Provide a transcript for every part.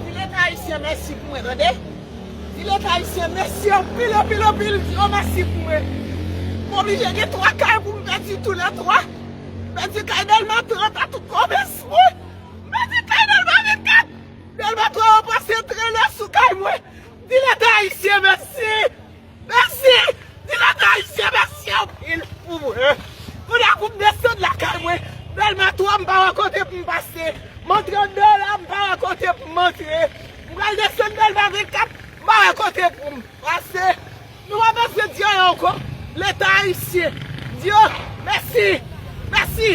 Di leta ayisyen mèsi pou mwen tande. Di leta ayisyen mèsi anpil anpil anpil di yo mèsi pou mwen. M oblije gen 3 kay pou m pèdi tou lè 3. M pèdi kay Dèlma 30 a tout komès mwen. M pèdi kay Dèlma 24. Dèlma 3 yo pase trenè sou kay mwen. Di leta ayisyen mèsi. Mèsi! Di lòt Ayisyen mèsi anpil pou mwen. Kounye a pou m desann lakay mwen, bèl matwa m pa wè kote pou m pase, montre m bèl la m pa wè kote pou m montre. M pral desann Dèlma 24, m pa wè kote pou m pase. Nou pa bezwen di anyen ankò, Leta Ayisyen. M di yo mèsi. Mèsi!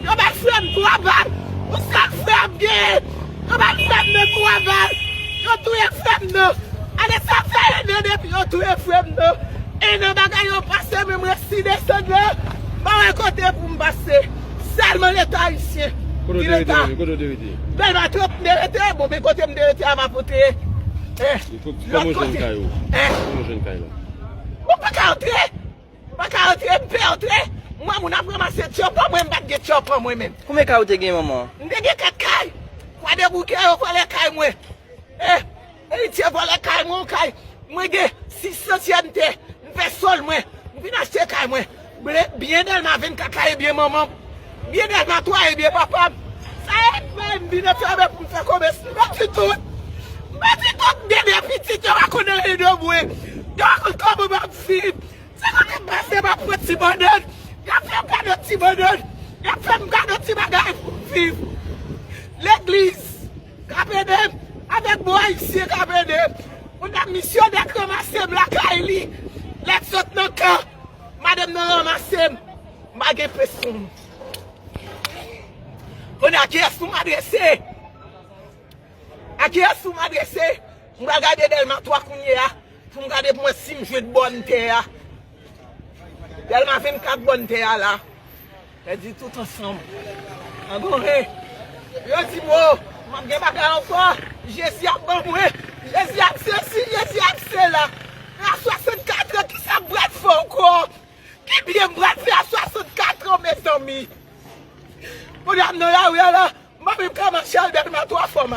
Yo bay frè m 3 bal! Ou sèl frè m genyen! Yo bay frè m nan 3 bal! Yo touye frè m nan! Ale sa fè 1 an depi yo touye frè m nan! 1 an bagay yo pase men m resi desann la! M pa wè kote pou m pase! Sèlman leta ayisyen! Ki leta? Dèlma 30 m te rete! Bon men kote m te rete a m ap antre lòt kote! Èh! Bon m pa ka antre! Pa ka antre m pè antre. M wè moun ap ranmase tyopan mwen m pat gen tyopan mwen menm. Konbyen kay ou te gen manman? M te gen 4 kay. Kwadeboukè yo vòlè kay mwen. Eh Eritye vòlè kay mwen yon kay mwen gen 6 santyèm tè m fè sol mwen m vin achte kay mwen byen Dèlma 24 la ebyen manman. Byen gad ma toi ebyen papam. Sa et mwen m vin antrave pou m fè komès m bati tout m bati tout m gen 2 pitit yo pa konn anyen de mwen yo pa konn kòman map viv se kote m pase map pran ti bannann yap fèm kado ti bannann yap fèm kado ti bagay pou m viv legliz kap edem avèk bon ayisyen kap edem on dam misyonè k ranmasem lakay li lèt sot nan kan madanm nan ranmasem. M pa gen presyon. Kounye a kiyès pou m adrese? A kiyès pou m adrese? M pral gade Dèlma 3 kounye a pou m gade pou m wè si m jwenn bòn tè a. Dèlma 24 bòn tè a la. Mwen di tout ansanm. An gore. Yo di m o, m ap gen bagay ankò. Jezi ap ban mwen. Jezi ap sesi, Jezi ap sela. Nan 64 an, ki sa k pral fè ankò? Ki byen m pral fè a 64 ans mezanmi. Moun yo ap nan lari a la, m pa menm ka mache al delma 3 fwa m.